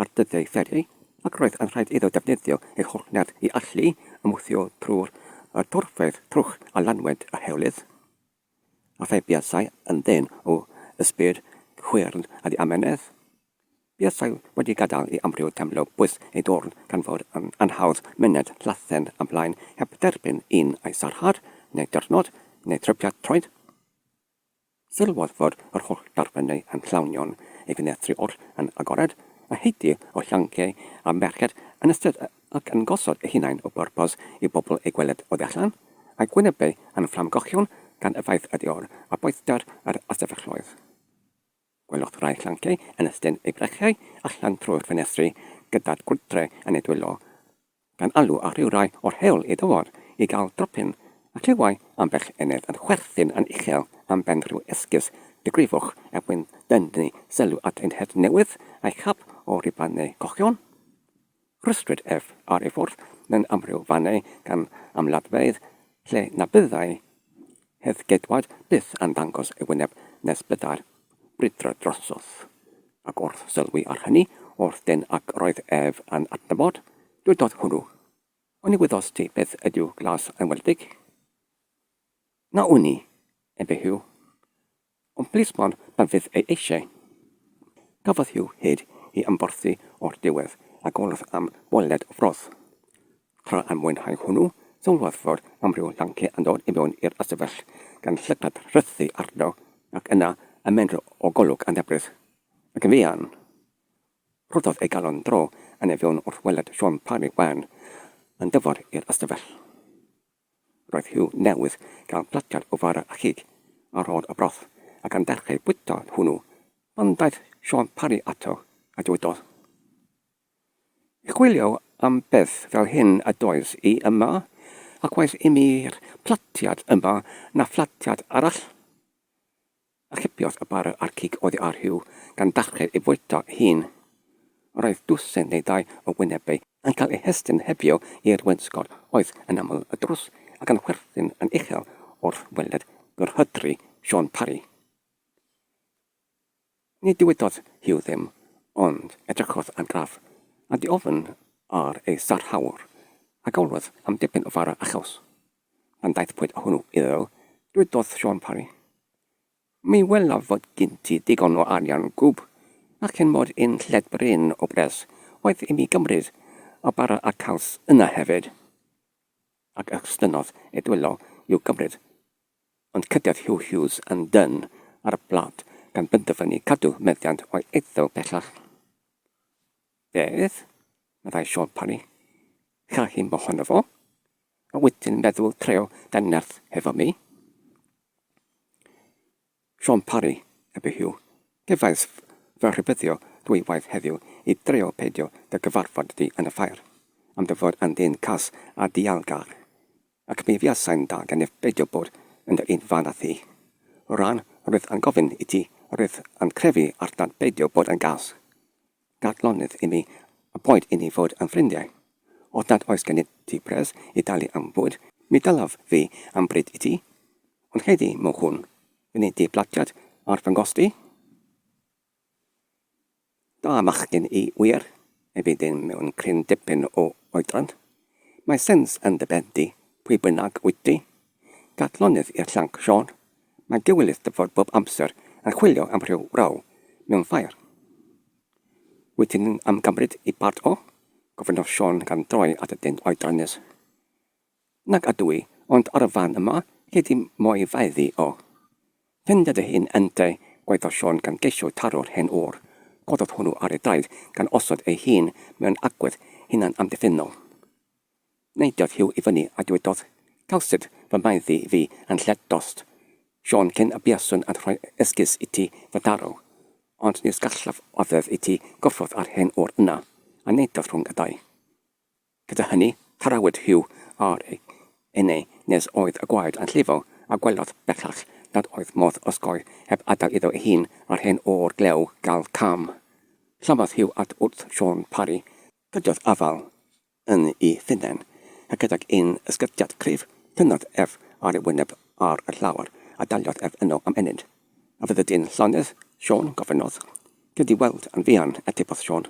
ar dyddiau fferi ac roedd yn rhaid iddo ddefnyddio ei holl nerth i allu ymwthio trwy'r dorfeydd trwch a lanwent a hewlydd, a phe buasai yn ddyn o ysbryd chwyrn a ddiamynedd, buasai wedi gadael i amryw deimlo bwys ei dorn gan fod yn anhawdd myned llathen ymlaen heb dderbyn un ai sarhad, neu dirnod, neu trypiad troed. Sylwodd fod yr holl darpennau a'n llawnion i fenetri oll yn agored, a heiti o llanciau a merched yn ystod ac yn gosod eu hunain o bwrpas i bobl eu gweled oddi allan, a'u gwynebau yn fflamgochion gan yfaith y dior a boethder yr ystafelloedd. Gwelwch rai llanciau yn estyn eu brechiau allan trwy'r ffenestri gyda'r gwydre yn eu dwylo, gan alw ar rywrai o'r heol i ddywod i gael dropyn, a clywai ambell enedd yn chwerthin yn uchel am ben rhyw esgus digrifwch er mwyn dynnu sylw at ein het newydd, a'i chap o ruban neu gochion. Rhwystrid ef ar ei ffordd mewn amryw fannau gan amlladfeydd lle na byddai Hedd Gedward byth yn dangos ei wyneb nes byddai'r brwydr drosodd. Ac wrth sylwi ar hynny o'r dân ac roedd ef yn adnabod, dywedodd hwnnw, Oni wyddost ti beth ydyw glas enwedig? Na wn i, ebe Huw. Ond plismon na fydd ei eisiau. Cafodd Hugh hyd i ymborthi o'r diwedd a golodd am weled y froth. Tra yn mwynhau hwnnw, sylwodd fod amryw lanci yn dod i mewn i'r ystafell, gan llygad rhythu arno, ac yna ymenro o golwg annhebryd. Ac yn fuan, rhoddodd ei galon dro yn ei fewn wrth weled Siôn Parry Wen yn dyfod i'r ystafell. Roedd Huw newydd gael platiad o fara a chig a rhod a broth, ac am ddechrau bwyta hwnnw, pan ddaeth Siôn Parry ato a dywedodd, I chwilio am beth fel hyn a does i yma, ac waeth imi'r platiad yma na phlatiad arall. Archipiodd y bara a'r cig oddi ar Huw, gan dachlu'r ei fwyta ei hun. Yr oedd dwsin neu ddau o wynebau yn cael eu hestyn hebio i'r wainscot oedd yn aml y drws ac yn chwerthin yn uchel wrth weled gyrhydru Siôn Parri. Ni ddywedodd Huw ddim, ond edrychodd ar Graf, a diofn ar ei sarhawr, a galwodd am dipyn o fara a chaws. pan ddaethpwyd â hwnnw iddo, dwedodd Siôn Parry, Mi welaf fod gen ti ddigon o arian gwb, a cyn mod i'n lled brin o bres oedd i mi gymryd y bara a'r caws yna hefyd. Ac estynnodd ei dwylo i'w gymryd, ond cydiodd Huw Hughes yn dân ar y blât gan benderfynu cadw meddiant o'i eiddo bellach. Beth? meddai Siôn Parry. Gall i'm bohono fo. A wedyn meddwl treo dy nerth hefo mi. Siôn Parry, a be yw? Gefais fy rhybuddio dwywaith heddiw i dreo peidio dy gyfarfod di yn y ffair, am dy fod yn ddyn cas a dialgar, ac mi fuasai'n dda gennyf beidio bod yn dy un fan â thi. Rhan, rwyf yn gofyn i ti, rwyf yn crefu arnat beidio bod yn gas. Dadlonydd i mi, a boed i ni fod yn ffrindiau. Os nad oes gennyt ti pres i dalu am fwyd, mi dalaf fi am bryd i ti. Ond heddi, mochwn, fyny dy blatiad ar fy nghost i. Da fachgen i wir, efi ddim mewn cryn dipyn o oedran. Mae sens yn dy ben di, pwy bynnag wyt ti, Dadlonydd i'r llanc, Siôn. Mae'n gywilydd dy fod bob amser yn chwilio am rhyw raw mewn ffair. Wyt ti'n yn ymgymryd i bart o? gofynnodd Siôn gan droi at y dyn oedran nes. Nag ydw i, ond ar y fan yma, gei di mo'i faedd hi o. Ffindia dy hun yntau, gwaeddodd Siôn gan geisio taro'r hen ŵr. Cododd hwnnw ar ei draed gan osod ei hun mewn agwedd hunan-amddiffynnol. Neidiodd Huw i fyny a dywedodd, Cawsid fy maeddu fi yn lled dost, Siôn, cyn y buaswn yn rhoi esgus i ti fytharw. Ond nis gallaf oddef i ti gyffwrdd â'r hen ŵr yna, a neidiodd rhwng y ddau. Gyda hynny, tarawyd Huw ar ei enau nes oedd y gwaed yn llifo, a gwelodd bellach nad oedd modd osgoi heb adael iddo ei hun a'r hen ŵr glew gael cam. Llamodd Huw at wrth Siôn Parry, cydiodd afal, yn ei hunain, a gydag un ysgythiad cryf, tynnodd ef ar ei wyneb ar y llawr, a daliodd ef yno am ennyn. A fyddi di'n llonydd, Siôn? gofynnodd. Dwi 'di weld yn fuan, atebodd Siôn.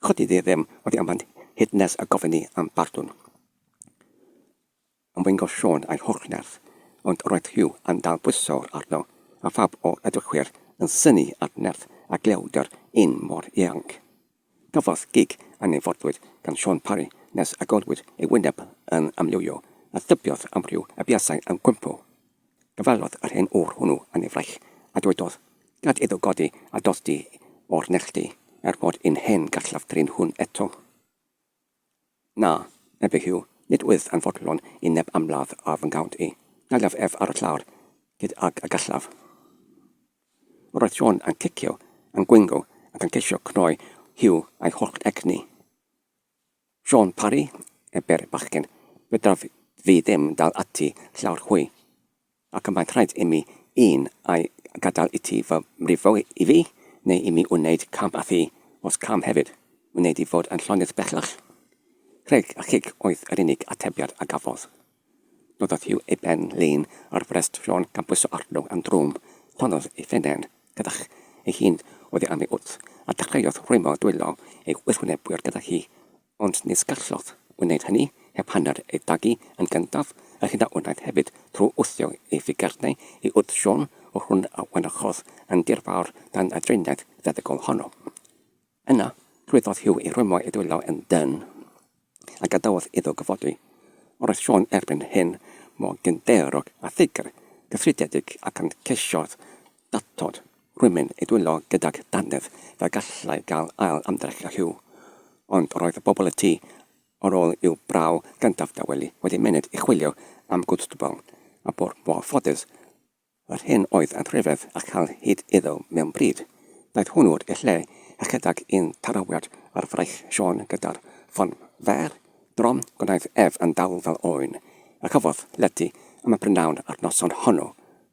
Chodi di ddim oddi am hyn hyd nes y gofyn i am bardwn. Ymddengos Siôn a'i holl nerth, ond roedd Huw yn dal bwysawr arno, a phawb o'r edrychwyr yn synnu at nerth a glewdr un mor ieuanc. Cafodd gig a nyfodwyd gan Siôn Parry nes y golwyd ei wyneb yn amlywio a thybiodd amryw y buasai yn gwympo. Cyfwellodd yr hen ŵr hwnnw yn ei fraich a dywedodd, Gad iddo godi a dollti o'r nerth di, er bod un hen garllaw drin hwn eto. Na, medde Huw, nid wyf yn fodlon i neb amladd ar fy nghawnt i. Dalaf ef ar y llawr hyd ag y gallaf. Roedd John yn cicio, yn gwingo, ac yn ceisio cnoi Huw a'i holl egni. John Parry, ebe'r bachgen, fedraf fi ddim dal ati llawr hwy. Ac y mae'n rhaid imi un ai gadael iti fy mrifo i fi, neu imi wneud cam a thi, os cam hefyd, wneud i fod yn llonydd bellach. Rheg a chig oedd yr unig atebiad a gafodd. Noddodd Hugh ei ben lin ar frest Siôn gan bwyso arno am drwm, torrodd ei phennen gydag ei hun oddi am ei wddf, a dechreuodd rhwymo dwylo ei wrthwynebwyr gyda hi Ond nis gallodd wneud hynny heb hanner ei dagu yn gyntaf, a hyn a wnaeth hefyd trwy wthio ei figarnau i wrth Siôn o'r hwn a wynychodd yn dirfawr dan y driniaeth feddygol honno. Yna, llwyddodd Huw i rwymo ei dwylo yn dân, a gadawodd iddo gyfodi. Roedd Siôn erbyn hyn mor gynddeyrog a ffigr gyffridiedig ac yn ceisiodd Datod, rhywun i dwyllo gydag dannedd fe gallai gael ail ymdrech â Huw. Ond roedd y bobl y tu ar ôl i'w braw gyntaf dawelu wedi myned i chwilio am gwstbl, a bo mor ffodus yr hyn oedd yn rhyfedd a chael hyd iddo mewn bryd. Daeth hwnnw i'r lle ychydig un tarawiad ar fraich Siôn gyda'r ffon fer, drom, gwnaeth ef yn dawel fel oen, a chafodd llety am y prynhawn a'r noson honno.